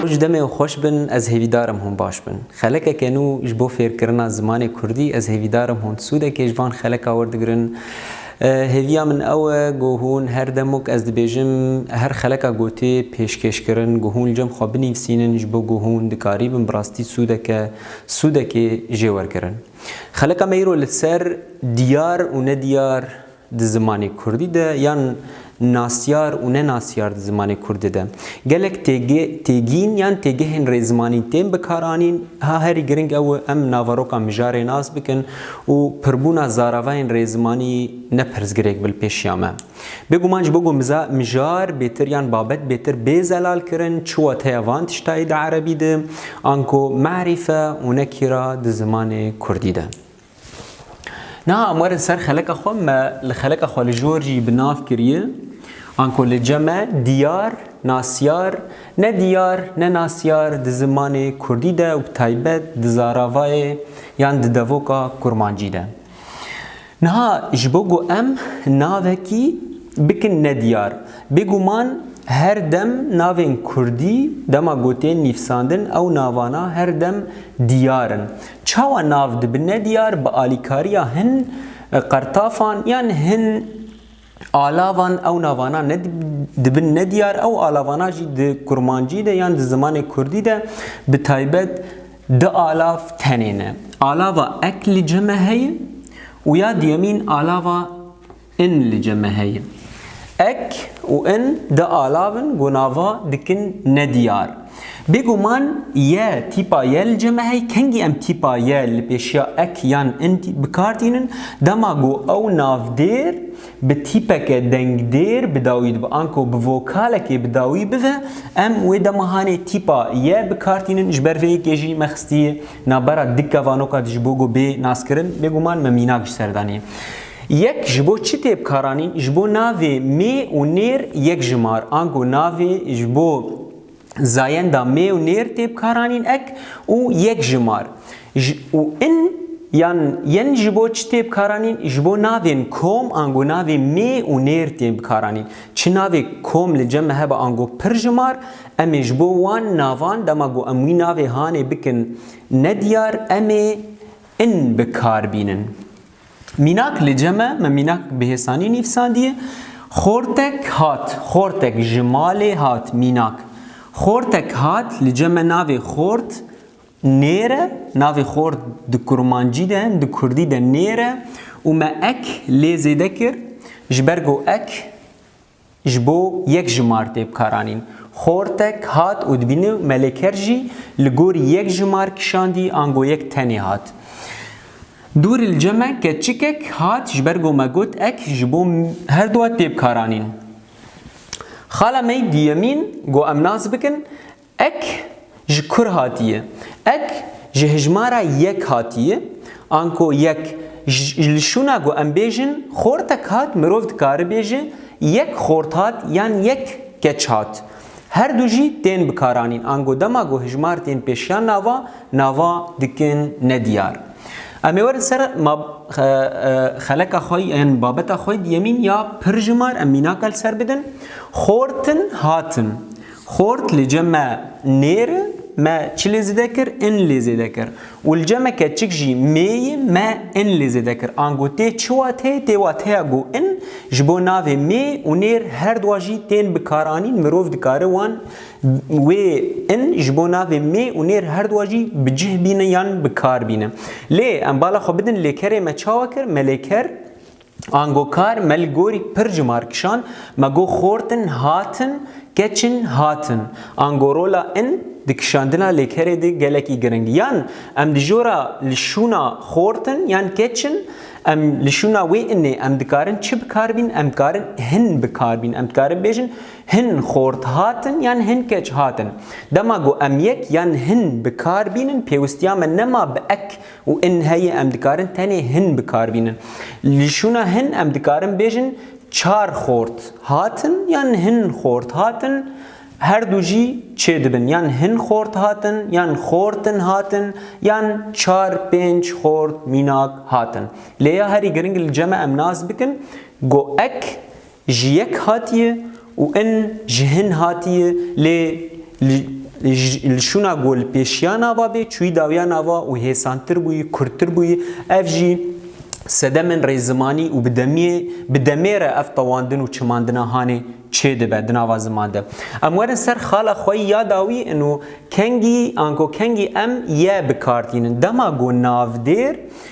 Ji demê ew xweş bin ez hêvîdar im hûn baş bin. Xelekeke nû ji bo fêrkirina zimanê kurdî ez hêvîdar im hûn sûdekê ji van xeleka werdigirin. Hêviya min ew e ku hûn her demok ez dibêjim her xeleka gotê pêşkêşkirin ku hûn li cem xwe binivîsînin ji bo ku hûn dikarîbin bi rastî sûdeke sûdekê jê wergirin. Xelika me îro li ser diyar û nediyar di zimanê kurdî de yan nasyar û nenasyar di zimanê kurdî de gelek têgîn yan têgehên rêzimanî tên bikaranîn. Ha herî giring ew e em naveroka mijarê nas bikin û pirbûna zaravayên rêzimanî ne pirsgirêk bi li pêşiya me. Bêguman ji bo ku miza mijar bêtir yan babet bêtir bê zelal kirin çi wateya van tiştayî di erebî de anko me'rîfe û ne kîra di zimanê kurdî de. Niha em werin ser xeleka xwe me li xeleka xwe li jor jî bi nav kiriye anko li ce me diyar, nasyar, ne diyar ne nasyar di zimanê kurdî de û bi taybet di zaravayê yan di devoka kurmancî de. Niha ji bo ku em navekî bikin nediyar, bêguman her dem navên kurdî dema ku tên nîvsandin ew navana her dem diyar in. Çawa nav dibi nediyar bi alîkariya hin qertafan yan hin Alavan ew navana ne dibin nediyar, ew alavana jî di kurmancî de yan di zimanê kurdî de bi taybet di alav tenê ne. Alava ek li ceme heye û ya duyemîn alava in li ceme heye. Ek û in di alavin ku nava dikin nediyar. Bêguman y tîpa y li cem e hey kengî em tîpa y li pêşiya ek yan in bi kar tînin dema ku ew navdêr bi tîpeke dengdêr bi dawî dibe an ku bi vokalekê bi dawî bive em wê dema hanê tîpa y bi kar tînin ji ber vê yekê jî me xistiye navbera dikka vanokad ji bo ku bê naskirin bêguman me mînak ji ser daniye Yek ji bo çi tê bi kar anîn ji bo navê mê û nêr yek jimar an ku navê ji bo zayenda mê û nêr tê bikaranîn ek û yek ji mar û in yan yen ji bo çi tê bikaranîn ji bo navên kom ango navê mê û nêr tên bikaranîn çi navê kom li cem hebe ango pir ji mar em ê ji bo wan navan dema ku em wî navê hanê bikin nediyar em ê in bikar bînin. Mînak li cem e, me mînak bi hêsanî nîvsandiye. Xortek hat, xortek ji malê hat, mînak. Xortek hat li cem e navê xort nêr e, navê xort di kurmancî de, di kurdî de nêr e û me ek lê zêde kir, ji ber ku ek Ji bo yek ji martê bikaranîn. Xortek hat û dibîne Meleker jî li gorî yek ji mar kişandî ango yek tenê hat. Dûrî li cem e keçikek hat ji ber ku me got ek ji bo herduwa tê bikaranîn. Xala me diyemîn got em nas bikin Ek ji kur hatiye? Ek ji hijmara yek hatiye, anko yek ji li şûna ku em bêjin xortek hat mirov dikaribêje yek xort hat yan yek keç hat. Her du jî tên bikaranîn ango dema ku hijmar tên pêşiya nava, nava dikin nediyar. Em ê werin ser xeleka xwe yan babeta xwe yemîn ya pirjimar em mînaka li ser bidin, xortin hatin. Xort li cem me nêr i, me çi lê zêde kir, in lê zêde kir. Û li cem me keçik jî mê i, me in lê zêde kir. Ango tê çi wateyê, tê wateya ku in ji bo navê mê û nêr her dua jî tên bikaranîn, mirov dikare wan wê in ji bo navê mê û nêr her dua jî bi cih bîne yan bi kar bîne. Lê em bala xwe bidin lêkerê me çawa kir, me lêker Ango kar me li gorî pir cumar kişand, me got xortin, hatin, keçin, hatin. Ango rola in di kişandina lêkerê de gelekî giring. Yan em di jora li şûna xortin yan keçin em li şûna wê inê em dikarin çi bi kar bîn? Em dikarin hin bi kar bîn. Em dikarin bêjin hin xort hatin yan hin keç hatin. Dema ku em yek yan hin bi kar bînin pêwistiya me nema bi ek Û in heyê em dikarin tenê hin bi kar bînin. Li şûna hin em dikarin bêjin çar xort hatin yan hin xort hatin her du jî çê dibin yan hin xort hatin yan xortin hatin yan çar pênc xort mînak hatin. Lê ya herî giring li cem e em nas bikin go ek ji yek hatiye û in ji hin hatiye lê li şûna ku li pêşiya nava bê çûyî dawiya nava û hêsantir bûyî, kurtir bûyî. Ev jî sedemên rêzimanî û bi demiyê bi demê re ev tewandin û çimandina hanê çêdibe di nava ziman de. Em werin ser xala xweyî ya dawî ino kengî anko kengî em ye bikar tînin. Dema ku navdêr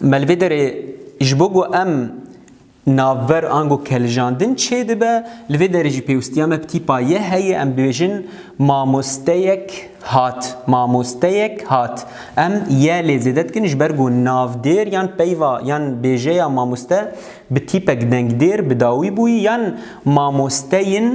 Melvêderê ji bo ku em navber ango keljandin çêdibe, li vê derê jî pêwistiya me bi tîpa ye heye, em dibêjin mamosteyek hat, mamosteyek hat. Em ye lê zêde dikin ji ber ku navdêr yan peyva yan bêjeya mamoste Bi tîpek dengdêr bi dawî bûyî yan mamosteyên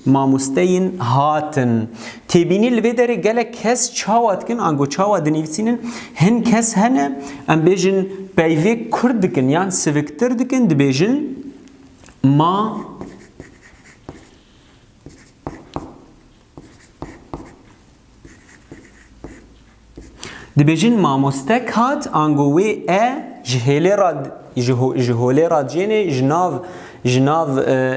mamosteyên hatin. Têbînî li vê derê gelek kes çawa dikin ango çawa dinivîsînin hin kes hene em bêjin peyvê kurd dikin yan siviktir dikin dibêjin ma Dibêjin mamostek hat ango wê e ji hêlê ra ji holê ra cênê ji nav ji nav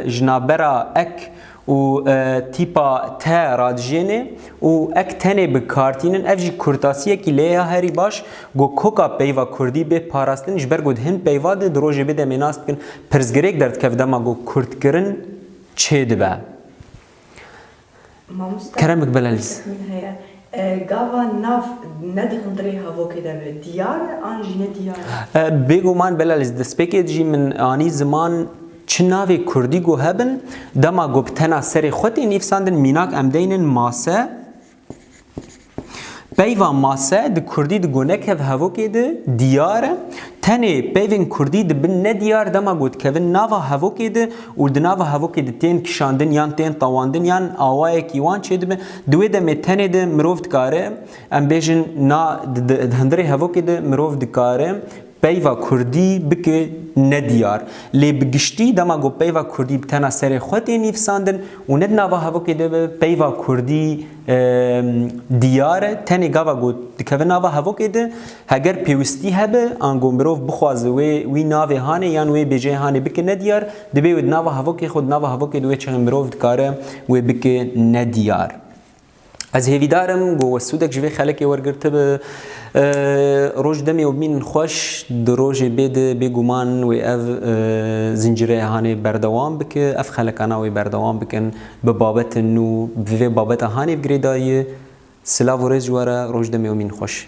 ji navbera ek û tîpa te ra dijênê û ek tenê bi kar tînin ev jî kurtasiyekî lê ya herî baş go koka peyva kurdî bê parastin ji ber ku di hin peyva de di rojê bê demê nas dikin pirsgirêk derdikeve dema ku kurdkirin çêdibe. Keremik Belaliz. Min heye. Gava nav ne di hundirê havokê de be diyar e an jî ne diyar e? Bêguman Belaliz, destpêkê dijî min anî ziman çi navê kurdî ku hebin, dema ku bi tena serê xwe tên nîvsandin, mînak em deynin mase, Peyva mase di kurdî di gonekev hevokê de diyar e. Tenê peyvên kurdî dibin nediyar dema ku dikevin nava hevokê de û di nava hevokê de tên kişandin yan tên tawandin yan awayekî wan çêdibe. Di wê demê tenê de mirov dikare em bêjin na di di di hundirê hevokê de mirov dikare Peyva kurdî bike ne diyar. Lê bi giştî dema ku peyva kurdî bi tena serê xwe tê nîvsandin û ne di nava hevokê de be, peyva kurdî diyar e. Tenê gava ku dikeve nava hevokê de, heger pêwistî hebe, ango mirov bixwaze wê wî navê hanê yan wê bêjeyê hanê bike ne diyar, divê wê di nava hevokê xwe, di nava hevokê de wê çexê mirov dikare wê bike ne diyar. Ez hêvîdar im ku we sûdek ji vê xelekê wergirtibe. Roj demê û bînin xweş, di rojê bê di bêguman wê ev zincîreya hanê berdewam bike, ev xelekana wê berdewam bikin bi babetên nû, bi vê babeta hanê bi girêdayiyê. Silav û rêz ji we re, roj demê û mînin xweş.